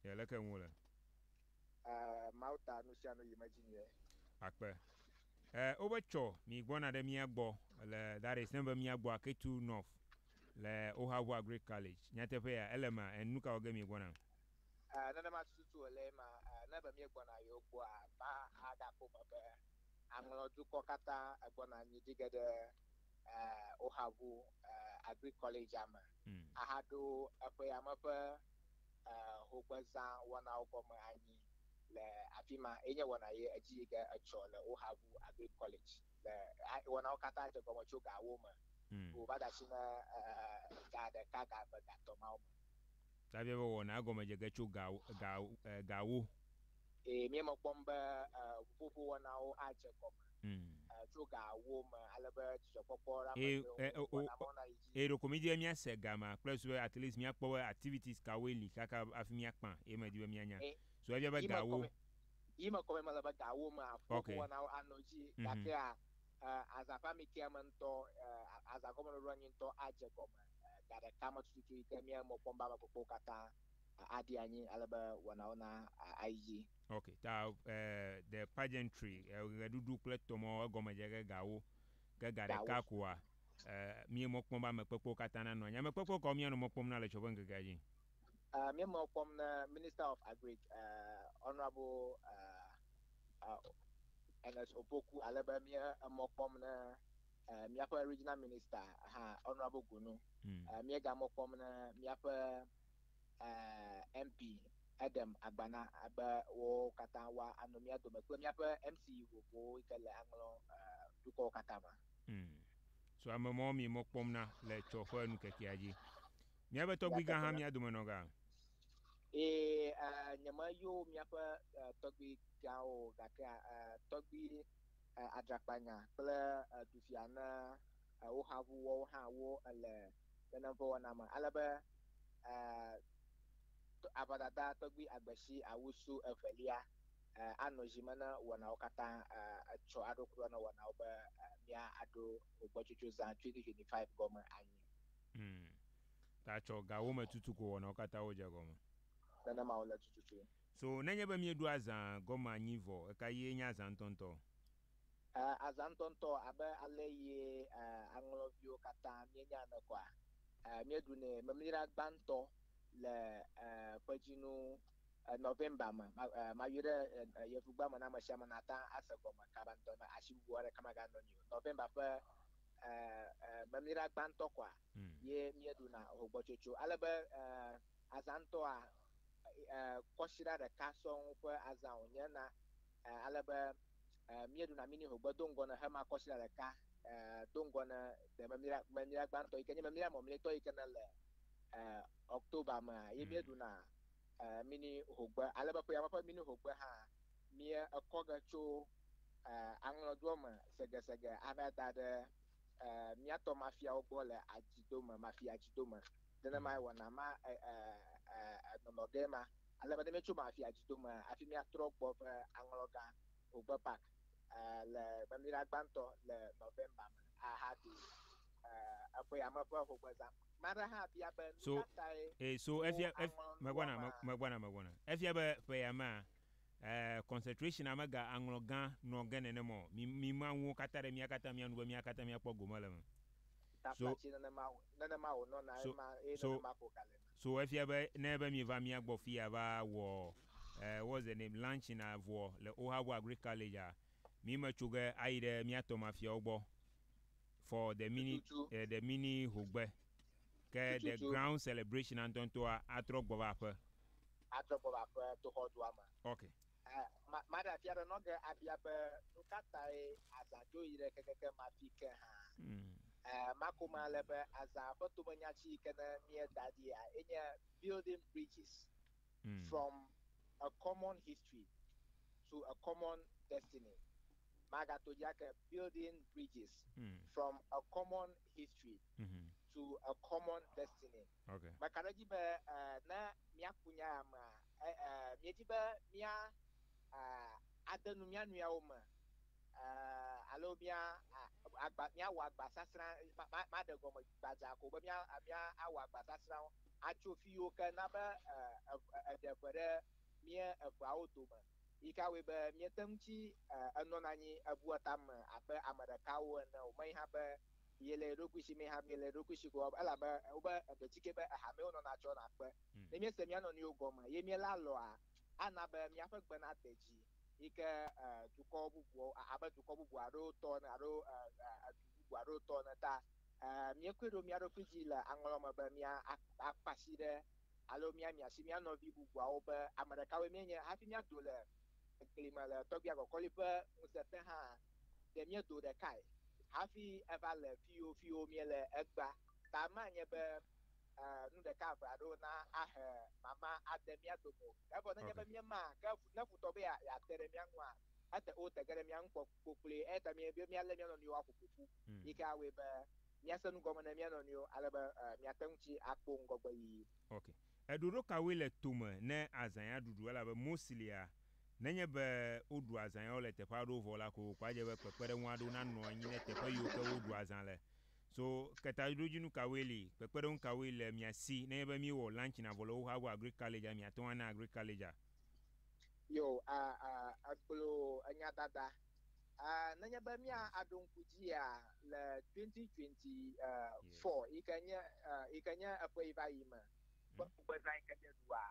Yɛ leke ŋu le? E, Mawu ta nu sia nu yi me dzi nyuie. Akpe. E, wobe tsɔ mi gbɔna ɖe mía gbɔ le, that is, ne be mía gbɔ ake tu North le Ohavu Agric College. Nyateƒe ya, ele ema? E, nuka wɔ ge mi gbɔna? E, nenema tututu wòle ema. E, ne be mí gbɔna yewo gbɔa, va a ɖa ƒo me be aŋlɔ dukɔ katã e gbɔna anyi ɖi ge ɖe, e, Ohavu, e, Agric College-a me. A ha ɖo eƒe yame ƒe e hogbezã wɔnawo gɔme anyi le afima ye nye wɔna ye edzi yi ke etsɔ le Ohabu Agric College le a wɔnawo katã dze gɔme tso ga wo me wo va da si ne e ga ɖeka ga eve ga tɔ mawo me. Daviawo wɔna egɔme dze ge tso ga ga e ga wo. Eye míemekpɔm be ʋuƒoƒo wɔnawo adze gɔme tso ga ewo me ale be dzidzɔkpɔkpɔ la mate ŋu wɔna mɔ nayi edzi. Eye ɖeko mídi be míase gama kple susu be at least míakpɔ be activities kawoe li kaka hafi míakpã ye medi be míanya. So efia be ga ewo. Yi mekɔ be mele be ga ewo mea, ʋuƒoƒo wɔnawo anɔ edzi gakea aza ƒe amikea me ŋutɔ, aza gɔmeɖɔɖɔa nyi ŋutɔ adze gɔme ga ɖeka me tututu yi ke míemekpɔm be ame kpokpowo katã aɖi anyi ale be wɔnawo na ayi dzi. Ok, ta the pageantry, ɣeɖuɖu kple tɔmɔ egɔme dze ge gawo, ke ga ɖeka koa mí mɔ kpɔm be ame kpekpewo katã na nɔ anyi. Ame kpekpe kawo mía nɔ mɔ kpɔm na le etsɔ ƒe ŋkekea dzi? Mía mɔ kpɔm na Minister of Agric, Honourable Ernest Opoku, ale be mía emɔ kpɔm na míaƒe Regional Minister hã, Honourable Gunu, míega mɔ kpɔm ne míaƒe MP Edem Agbana be wo katã woa anɔ mía dome kple míaƒe MC vovovowo yi ke le aŋlɔ dukɔwo katã me. So ame mawo mí mɔ kpɔm na le etsɔ ƒe nukekea dzi. Míaƒe tɔgbui gã hã mía dome nɔ ga? Ẽ, nye me yo míaƒe tɔgbui gãwo o, gakea tɔgbui. adzakpanya kple ɖuvia na wo xa ŋu woawo hã wo le nene ƒe wɔna me. Ale be aʋadada tɔgbui agbesi awusu evelia anɔ dzi me ne wɔnawo katã tsɔ aɖo kura na wɔnawo be mía aɖo gbɔtsotso zã 2025 gɔme anyi. Hm, ta tsɔ ga wo me tutu ko wɔnawo katã wo dze gɔme. Nenema wo le tututu. So nenye be míeɖo azã gɔme anyi vɔ, ɣekaɣie nye azã ŋutɔŋutɔ? E, azã ŋutɔŋutɔ, abe alesi e, aŋlɔviwo katã míenya ene kɔa? E, míeɖunɛ memlira gbãtɔ le e, ƒedzinu e, November me. Ma, e, mayi ɖe e, e, Yevugba me na ame sia ame nàte ŋu ase gɔme kabantɔ ne asiwuwu aɖeke maganɔ anyi o. November ƒe e, e, memlira gbãtɔ kɔa? ye míeɖuna hogbɔtsotso. Ale be azã ŋutɔa, kɔsiɖa ɖeka sɔŋ ƒe azã wònye na. Ale be míeɖuna mini hogbe do ŋgɔ ne hema kɔsiɖa ɖeka do ŋgɔ ne de memira, memira gbãtɔ yi ke nye memira mɔmlɛtɔ yi ke nele October mea, ye míeɖuna mini hogbe. Ale be ƒea me ƒe mini hogbe hã, míekɔ ge tso aŋlɔdoɔ me segesege ava da ɖe míatɔ mafiawo gbɔ le adzidome, mafi adzidome. Nenemae wɔna ma nɔnɔ ge ma. Ale be ne míetso mafi adzidome hafi míatrɔ gbɔ ƒe aŋlɔgã Ogbe Park le gbedoɖa gbãtɔ le November me ahaɖu eƒe yame ƒe hogbezã. Ame aɖe hã bia be, Nu ka tae woaŋlɔ nuwo hã? Ɛɛ, concentration'a mega aŋlɔ gã nɔ ge nenem ɔ, mi, mi ma ŋuwo katã ɖe mía katã mía nu be mía katã mía kpɔ gome le eme. So, Taflatsi nenema, nenema wònɔna so, ema, eye so, nenema ko gale na. so efia be ne ebe mieva mía gbɔ fiya va wɔ, ɛɛ, what's the name, lunch na vɔ le Ohabo Agri Collegea, mi me tso ge ayi ɖe mía tɔmafiawo gbɔ for the mini, Tututu. ɛɛ, the mini hogbe. Ke The Tututu. Ground Celebration-a ŋutɔŋutɔa atrɔ gbɔ va aƒe. Atrɔ gbɔ va aƒe to xɔdua me. Ok. Eh, ma- maɖe afia ɖe nɔ ge abia be, Nu ka tae azã dzo yi ɖe kekeke ma fi ke hã? Mm. Eh, mako me ale be, azã ƒe tomenya ci yi ke ne míeda ɖia enye Building Bridges Mm. from a Common History to a Common Destiny. Magato dzi ake, Building Bridges Mm. from a Common history Mhm. to a common destiny. Okay. Meka ɖe edzi be eh, ne míaku nya ya mea, eh, eh, míedi be mía eh, ade nu mía nɔewo me eh, alo mía ah, agba, míawɔ agbasasrã, ma- ma- maɖe gɔme gbadza ko be mía ah, mía awɔ agbasasrãwo atso fi yiwo ke na be eh, ev- eh, eɖe ʋe ɖe mía eveawo dome. Yi ka wɔe be miete ŋu tsi enɔna anyi ebua tame abe ame ɖekawo ene o? Menye hã be miele eɖokui si, menye hã be miele eɖokui si ko o, elabe wobe eɖetsike be ehamee wonɔna tsɔna kpe. Ne miese mia nɔnɔewo gɔme eye miele alɔa, ana be miaƒe gbe nade dzi yi ke dukɔ bubuawo, abe dukɔ bubu aɖewo tɔ ene alo du bubu aɖewo tɔ ene ta. Míekɔe ɖo mía ɖokui dzi le aŋlɔ me be mía akpa asi ɖe Alo míamia asi mía nɔvi bubuawo be ame ɖekawoe míenye hafi míado le egli me le tɔgbuia kɔkɔli ƒe ŋusẽ te hã. Ɖe míedo ɖekae hafi eva le fiyo fiyo míele egbea ta manye be nu ɖeka eve aɖewo na ahe mama ade mía dome o. Evɔ nenye be míema ke ne futɔ be yeate ɖe mía ŋua, ete o tege ɖe mía ŋu kpokploe. Eyata míabe míalé mía nɔnɔewo aƒoƒo ƒu yi ke awɔe be míase nu gɔme na mía nɔnɔewo ale be míate ŋu tsi akpo ŋgɔgbeyiyi. Ok. Eɖoɖo kawoe le tome ne azãya ɖuɖu? Elabe mostly-a, nenye be woɖu azãyawo le teƒe aɖewo vɔ la, kokoko adze be kpekpeɖeŋu aɖewo nanɔ anyi ne teƒe yiwo ke woɖu azã le. So, ketaɖodzinu kawoe li? Kpekpeɖeŋu kawoe le mia si nenye be míewɔ lunch na vɔ le woxa go Agric College-a, miate ŋu ana Agric College-a? Yo, a, a, egblɔ enyadada Nenye be mía aɖo ŋku dzia le twenty twenty four yike nye yike nye eƒe yi va yi me ƒe ŋugbe zã yike nye ɖua,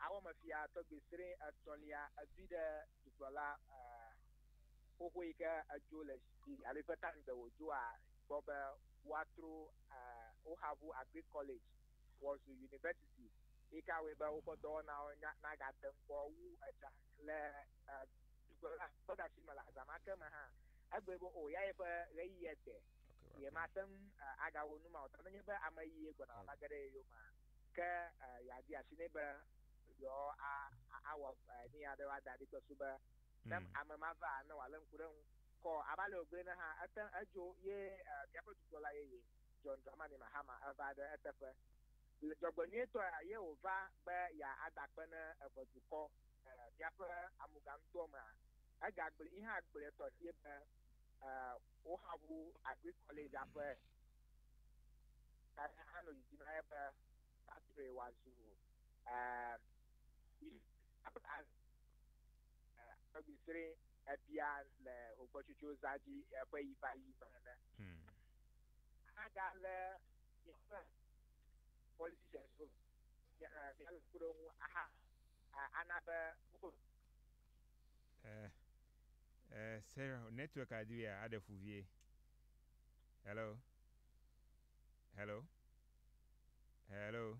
awɔ eme fia tɔgbi srẽ etɔ̃lia edui ɖe dukplɔla xoxo yike edzo le zi dzi alo yike ta ŋugbe wòdzoa gbɔ be woatro Ohavu Agric College wòazu University yike awɔe be woƒe dɔwɔnawo nagate ŋu kpɔ wu edza le dukplɔla ƒe ɖasi me le aza ma ke me hã. Egblɔe be o ya yeƒe ɣeyiɣia de, yemate ŋu agawɔ nu ma o ta nenye be ame ɣie gbɔna va ge ɖe ye yome ke yeadi asi nɛ be yewoawɔ nu aɖe woada ɖi kple sube ne ame ma va ne wòalé ŋku ɖe eŋu kɔ. Abe ale wògblɔe ene hã, ete ŋu edzo ye míaƒe dukplɔla yeye, John Dramani Mahama, va ɖe eteƒe. Dzɔgbenyuitɔea, ye wòva be yeadakpe ne eve dukɔ. míaƒe amoganutoa mea, egagblɔe yi hã gblɔe tɔxɛ be woxa ŋu Agric College-a ƒe tame hã nɔ didim ale be woatrɔe wòazu Agbesri ebia le Hogbetsotso zã dzi ƒe yi va yi me ene. Ahaga lé míaƒe politicians-wo, míalé kpe ɖe wo ŋu aha. ana be wo. Eh, eh, Sarah, network adi be aɖe fu vie. Hello? Hello? Hello?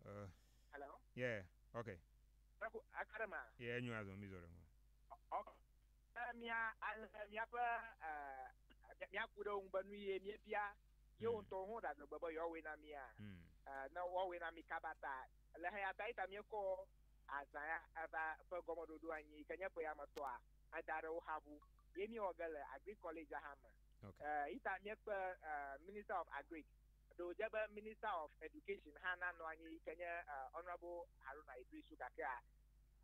Uh, Hello? Yeah, okay. Aku akarema. Yeah, nyu azɔ mi zɔ ɖe mo. Ok. Mia ale miaƒe eh mia ku ɖe wo ŋu be nu ye miebia Yewo mm. ŋutɔwo hã ɖaɖe gbe be yewoawɔe na mía. Mm. Eh, ne woawɔe na mí kaba ta, le heya ta yita míekɔ azã ya eva ƒe gɔmeɖoɖo anyi yi ke nye ƒe ya me tɔa eda ɖe wo xa ŋu. Ye míewɔ ge le Agri College hã me. Okay. Uh, eh, yita míekpe uh, Minister of Agri. Ɖe wòdze be Minister of Education hã nanɔ anyi yi ke nye uh, Honorable Haruna Idrisu gakea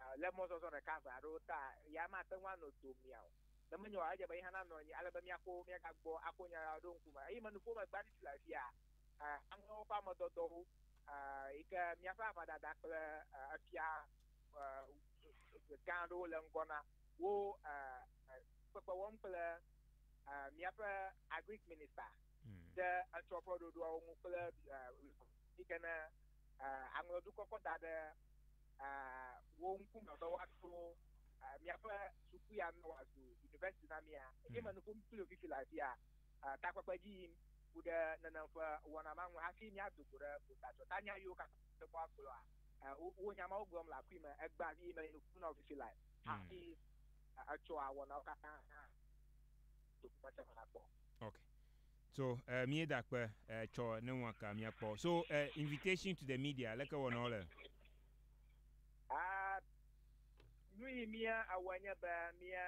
uh, le mɔzɔzɔ ɖeka ʋe aɖewo ta ya mate ŋu anɔ domia o. Ne menye oa, edze be yehã nanɔ anyi ale be míaƒo mía ga gbɔ ako nya la ɖo ŋkume. Eye menuƒo megbe hafi le afia aŋewo ƒe ame dɔdɔwo yi ke míaƒe aʋadada kple efia gã aɖewo le ŋgɔ na wo kpekpe wɔm kple míaƒe Agric Minista ɖe etsɔ ƒe ɖoɖoawo ŋu kple yi ke ne aŋlɔdukɔ kɔ da ɖe wo ŋkume be woato miaƒe suku ya ne wòazu yunivɛsiti na mia. Eye menɔ ƒom kpli wò fifi le afia takpekpe dzi yim ku ɖe nenem ƒe wɔna ma ŋu hafi míado go ɖe gotadzɔ ta nya yiwo katã wòle kpɔ agblɔa. Wò nya mawo gblɔm le akui me egbea eye menɔ nu ƒom na wò fifi le hafi etsɔa wɔnawo katã do go me se me la gbɔ. So eh mie da kpe eh tsɔ ne ŋua ka mia kpɔ so eh invitation to the media leke wɔ nɔ le. Ah nuyi mia awɔ nye be mia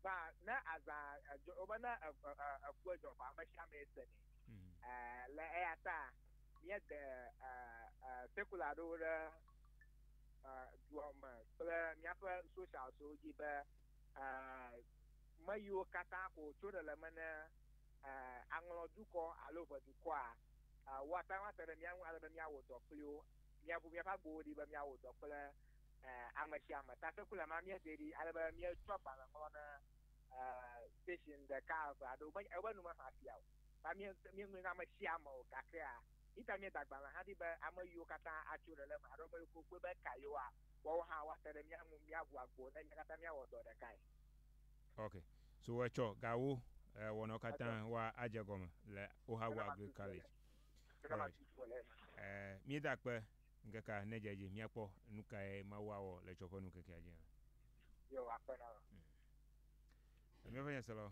va ne azã edzɔ wobe ne eh eh eh eku edzɔ vɔ ame sia ame se nɛ eh le eya ta mia de eh eh secular ɖewo ɖe eh dua me kple mia ƒe socials wo dzi be eh. meyiwo katã ko wòtso ɖe le eme ne aŋlɔ dukɔ alo ʋe dukɔa, woate ŋu ate ɖe mía ŋu ale be míawɔ dɔ kpli wo. Míaʋu míaƒe agbowo ɖi be míawɔ dɔ kple ame sia ame. Tasekula ma, míedee ɖi ale be míetsɔ agbalẽ ŋlɔ na station ɖeka, eve, alo ƒe ƒe enu maxa afia o. Ta míe, míeŋlɔe na ame sia ame o. Gakea, yita míeda agbalẽ hã ɖi be ameyiwo katã atso ɖe le eme alo ameyiwo ke wokpɔe be eka yewoa, Woawo hã woate ɖe mía ŋu míaʋu agbo ne mía katã míawɔ dɔ ɖekae. Ok, so etsɔ gawo eh, wɔnɔ katã wa adze gɔme le Ohago Agric College. Alright. Eh, míeda akpe ŋkekea nedze edzi míakpɔ nukae Mawu awɔ le etsɔ ƒe nu ŋkekea dzi hã. Yo, akpe na wò. Míaƒe Nyaselɔ.